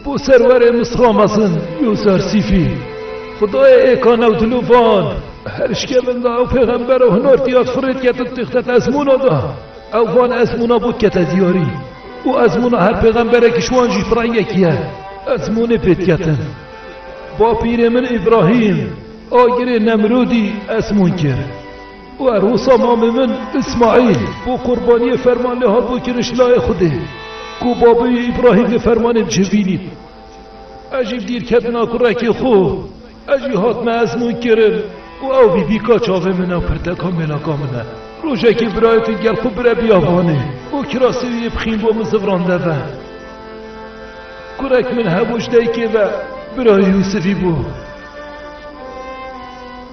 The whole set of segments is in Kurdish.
Bo serwerê Misra mezin Yûsersîfî, xudayê êka newdilû van, Her şkevin de ew pêxember û hinortîya firê dikete di têxte ezmûna de. Ew van ezmûna bo dikete diyarî û ezmûna her pêxemberekî ji wan jî bi rengekî ye. Ezmûnê pê diketin. Bapîrê min Îbrahîm agirê Nemrûdî ezmûn kir. û er wisa mamê min Îsmaîl bo qurbaniyê ferman lê hat bo kiriş layê Xwedê ku babê wî Îbrahîm vê fermanê bicivînîn. Ez jî dîr ketina kurekê xwe, ez jî hatime ezmûn kirin û ew vî bîka çavê min e û pirteka mêlaka min e. Rojekê birayê te gel xwe bire biyavanê û kirasê wî yê bixîn bo min zivran de ve. Kurek min hebû ji daykê ve, birayê Yûsifî bû.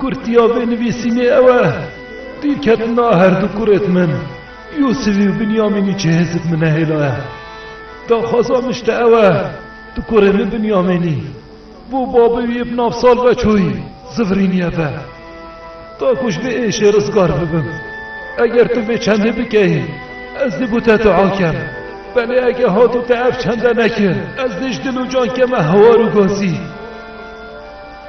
Kurtiya vê nivîsînê ew e, Pîketina her du kurêt min Yûsivî û Binyamînî cihêzik min nehêla ye. Daxwaza min ji te ew e, tu kurê min Binyamînî bo babê wî bi nav sal ve çûyî Zivrîniyê ve. Ta ku ji vê êşê rizgar bibim. Eger tu vê çendê bikeyî, ez dê bo te dua kem. Belê ege hatû te ev çende nekir, ez dê ji dil û cankê me hewar û gazî.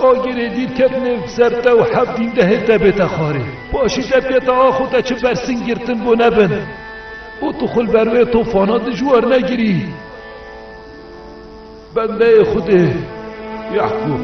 Agirê dîr ketine ser te û heft dîn dehê te bête xwarê. Paşî te pêta axo te çi bersing girtin bû nebin û tu xwe li ber wê tofana dijwar negirî. Bendeyê Xwedê Yaqûb.